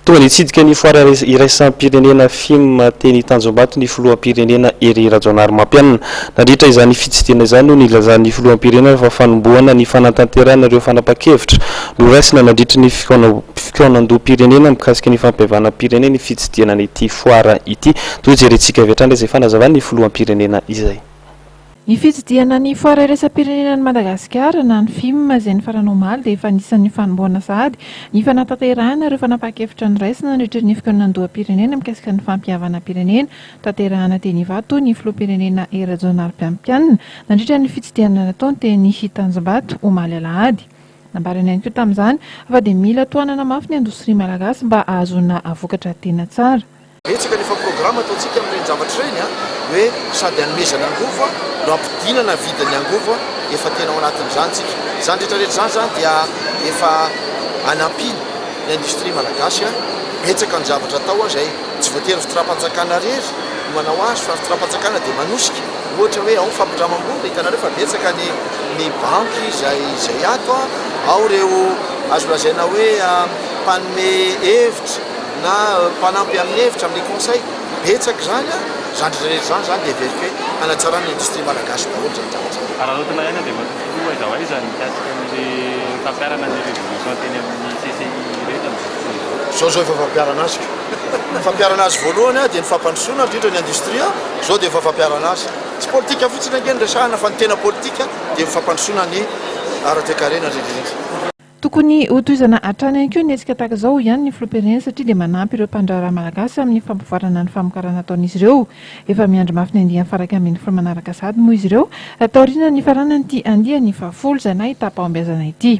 Tonga dia hitsidika ny foara iraisam-pirenena Fim teny Tanjombato ny filoham-pirenena Hery Rajaonarimampianina. Nandritra izany fitsidihana izany no nilazan'ny filoham-pirenena fa fanombohana ny fanatanterahana ireo fanapahan-kevitra noraisina nandritry ny fikaonandoham-pirenena mikasika ny fampihavanam-pirenena ny fitsidihana an'ity foara ity. Toa jerentsika avy hatrany izay fanazavan'ny filoham-pirenena izay. Ny fitsidihana ny Foara iraisam-pirenena an'i Madagasikara na ny fim izay nifarana omaly dia efa anisan'ny fanombohana sahady ny fanatanterahana ireo fanapahan-kevitra noraisina nandritra ny fikaonandoham-pirenena mikasika ny fampihavanam-pirenena tanterahana teny Ivato ny Filoham-pirenena Hery Rajaonarimpiampianina nandritra ny fitsidihana nataony teny Tanjombato omaly alahady. Nambarany ihany koa tamin'izany fa dia mila tohanana mafy ny indostria malagasy mba hahazoana vokatra tena tsara. Betsaka nefa programa ataontsika amin'ireny zavatra ireny a, hoe sady hanomezana angovo no hampidinana vidin'ny angovo, efa tena ao anatin'izany tsika. Izany rehetra rehetra izany zany dia efa anampiana ny industrie malagasy a, betsaka ny zavatra atao a, izay tsy voatery fitrapanjakana rery no manao azy fa fitrapanjakana dia manosika, ohatra hoe ao ny fampindramam-bola, hitanareo fa betsaka ny ny banky izay izay ato a, ao ireo azo lazaina hoe mpanome hevitra, na mpanampy amin'ny hevitra amin'ny conseil betsaka izany an, izany rehetra rehetra izany izany dia heveriko hoe hanatsarana ny industrie malagasy daholo izany zavatra izany. Araraotina ihany aho dia matoa filoha aiza ho aiza ny mikasika ny fampiharana ny revolution teny amin'ny CCI rehetra amin'izao fotoana izao. Izao izao efa fampiharana azy ka. Ny fampiharana azy voalohany an dia ny fampandrosoana indrindra ny industrie an, izao dia efa fampiharana azy. Tsy politika fotsiny ange no resahana fa ny tena politika dia ny fampandrosoana ny ara-toekarena indrindra indrindra. Tokony ho tohizana hatrany ihany koa ny hetsika tahaka izao, hoy ihany ny filoham-pirenena, satria dia manampy ireo mpandraharaha malagasy amin'ny fampivoarana ny famokarana ataon'izy ireo. Efa miandry mafy ny andiany faha iraika ambin'ny folo manaraka sahady moa izy ireo, taorian'ny nifaranan'ity andiany fahafolo izay nahitàm-pahombiazana ity.